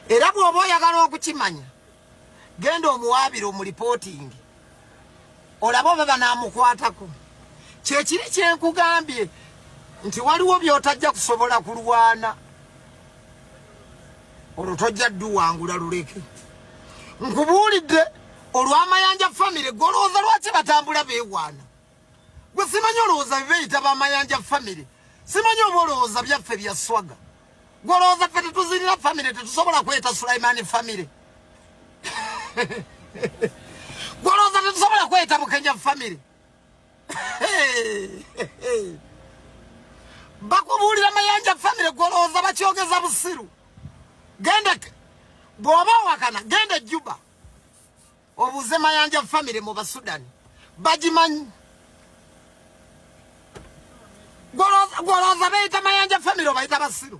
Era bw'oba oyagala okukimanya genda omuwaabire omulipootingi olaba oba banaamukwatako kyekiri kyenkugambye nti waliwo byotajja kusobola kulwana olwo tojja dduwangula luleke nkubuulidde olw'amayanja famire golowooza lwaki batambula beewaana Gwe simanyi olowooza bibeyita bamayanja famire simanyi oba olowooza byaffe bya swaga gwe olowooza ffe tetuzirira famire tetusobola kweta sulaimani famire gwe olowooza tetusobola kweta bukenya famire bakubuulira mayanja famire gwe olowooza bakyogeza busiru genda bw'oba owakana genda ejjuba obuuze mayanja famire mu basudani bagimanyi gwolowooza beyita mayanja famire obayita basiru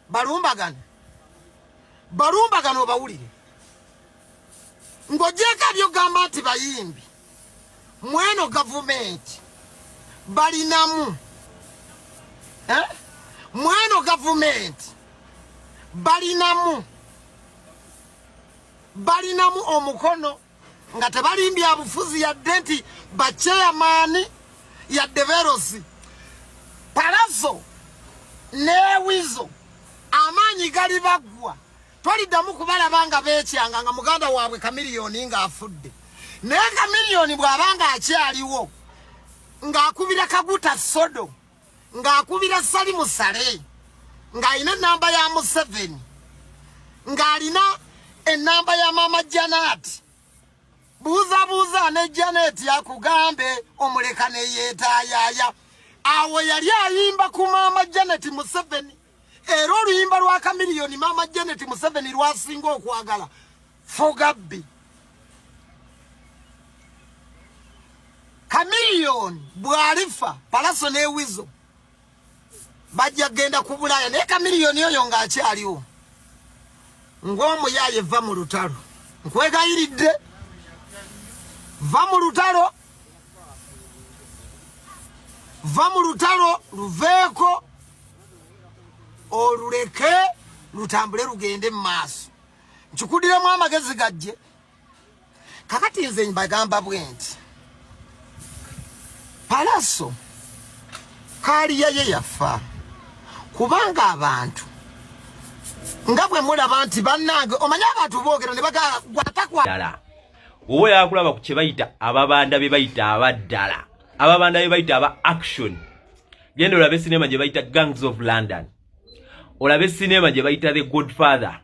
balumbagane balumbagane obawulire ng'ogyeko ebyogamba nti bayimbi mweno gavumenti balinamu eh? mweno gavumenti balinamu balinamu omukono nga tebalimbya abufuzi yadde nti bacheyamaani yadde verosi palazo newizo amaanyi gali baggwa Toliddamu kubalaba nga beekyanga nga muganda waabwe Kamiliyoni ng'afudde. Naye Kamiliyoni bw'aba ng'akyaliwo ng'akubira Kaguta Sodo ng'akubira Salimu Sale ng'alina ennamba ya Museveni ng'alina ennamba ya Maama Janaati buuzabuuza ne Janet yakugambe omuleka ne yeetayaaya awo yali ayimba ku maama Janet Museveni era oluyimba lwa kamiliyoni maama janet museveni lwasinga okwagala fogabbi kamiliyoni bwalifa palaso newizo bajja kugenda ku bulaaya naye kamiliyoni oyo ng'akyaliwo ng'omuyaaye eva mu lutalo nkwegayiridde va mu lutalo va mu lutalo luveeko oluleke lutambule lugende mu maaso nkikudiremu amagezi gajje kakati nze mbagamba bwe nti palaso kaaliya ye yafa kubanga abantu nga bwe mulaba nti bannange omanyi abantu boogera ne bagagwatakwala wowe yakulaba ku kye bayita ababanda be bayita abaddala ababanda be bayita aba action Genda olabe sinema gye bayita Gangs of London, olabe sinema gye bayita The Godfather,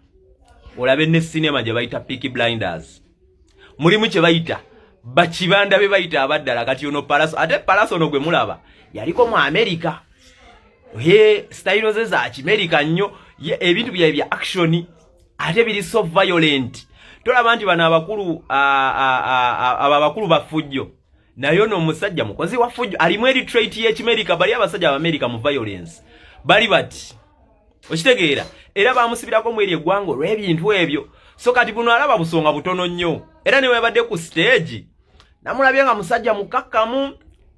olabe ne sinema gye bayita Peaky Blinders. Mulimu kye bayita bakibanda be bayita abaddala. Kati ono Palaso, ate Palaso ono gwe mulaba yaliko mu Amerika. He style ze za Kimerika nnyo, ebintu byaye bya action ate biri so violent. Tolaba nti bano abakulu abo abakulu bafujjo naye ono omusajja mukozi wa fujjo alimu eri trait y'ekimerika bali abasajja abamerica mu violence bali bati okitegeera era bamusibirako mu eri eggwanga olw'ebintu ebyo so kati buno alaba busonga butono nnyo era ne webadde ku siteegi namulabye nga musajja mukakkamu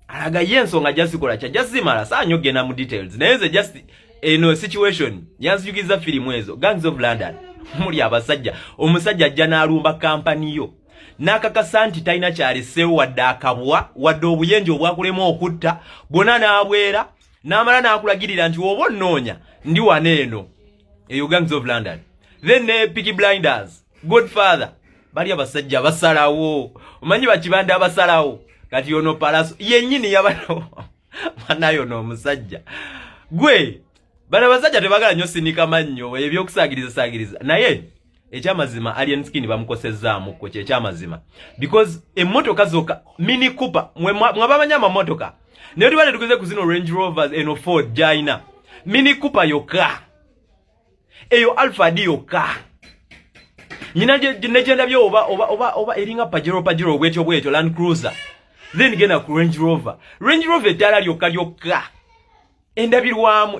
alaga ye ensonga jazikola kya jazimala saanyo okugenda mu details naye nze just eno situation yanzijukiriza firimu ezo gangs of london muli abasajja omusajja ajja n'alumba kampani yo n'akakasa nti talina kyaleseewo wadde akabwa wadde obuyenje obwakulema okutta bwona n'abwera n'amala n'akulagirira nti oba onnoonya ndi wano eno eyo gangs of london then ne piki blinders good father bali abasajja basalawo omanyi bakibanda abasalawo kati ono palaso yennyini yabanawo banayo n'omusajja gwe bana basajja tebagala nyo sinika mannyo ebyokusaagiriza saagiriza naye ekyamazima alien skin bamukosezzaamu kwe kyekyamazima because emmotoka zokka mini cooper mwabamanya amamotoka naye tuba netukuze ku zino range rovers eno ford gyalina mini cooper yokka eyo alfad yokka nyina negyendabye oba, oba, oba, oba eringa pajero pajero obwetyo bwetyo land cruiser then genda ku range rover range rover eddaala lyokka lyokka endabirwamu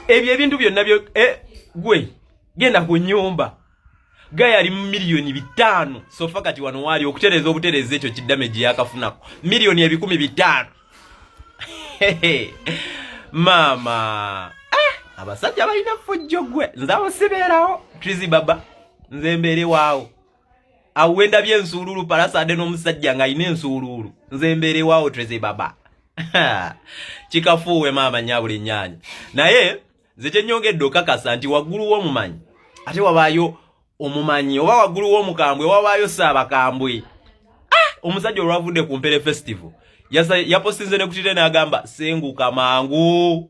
ebyo ebintu byonna byo eh, gwe genda ku nyumba gaya yali mu miliyoni bitaano sofa kati wano waali okutereeza obutereeza ekyo kiddame gye yakafunako miliyoni ebikumi bitaano maama ah, abasajja balina fujjo gwe nze abo sibeerawo trizi baba nze mbeere waawo awo wendabye ensuuluulu palasade n'omusajja nga alina ensuuluulu nze mbeerewaawo treze baba kikafuuwe maama nyabula ennyanya naye nze kyenyongedde okakasa nti waggulu w'omumanyi ate wabaayo omumanyi oba waggulu w'omukambwe wabaayo saabakambwe ah! omusajja olwavudde ku mpere festival yaposinze ne kutire n'agamba senguka mangu